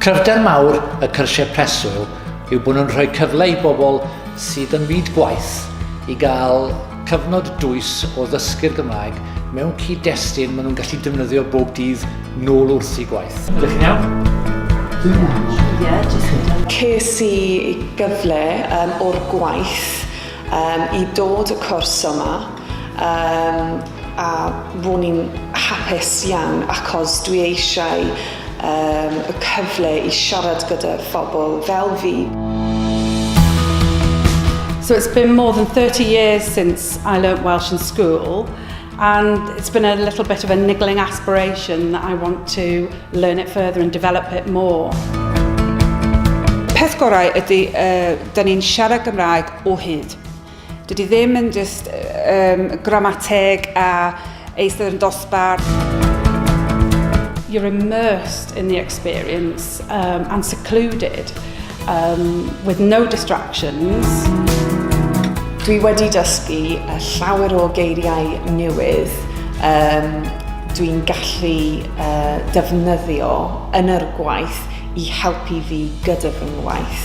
Cryfder mawr y cyrsiau preswyl yw bod nhw'n rhoi cyfle i bobl sydd yn fyd gwaith i gael cyfnod dwys o ddysgu'r Gymraeg mewn cyd-destun maen nhw'n gallu defnyddio bob dydd nôl wrth i gwaith. Ydych chi'n iawn? Dwi'n iawn. Ie, jyst Ces i gyfle um, o'r gwaith um, i dod y cwrs yma um, a ro'n i'n hapus iawn achos dwi eisiau um, y cyfle i siarad gyda phobl fel fi. So it's been more than 30 years since I learnt Welsh in school and it's been a little bit of a niggling aspiration that I want to learn it further and develop it more. Peth gorau ydy, uh, da ni'n siarad Gymraeg o hyd. Dydy ddim yn just um, gramateg a Eistedd yn dosbarth. you're immersed in the experience um, and secluded um, with no distractions. Dwi wedi dysgu uh, llawer o geiriau newydd um, dwi'n gallu uh, defnyddio yn yr gwaith i helpu fi gyda fy ngwaith.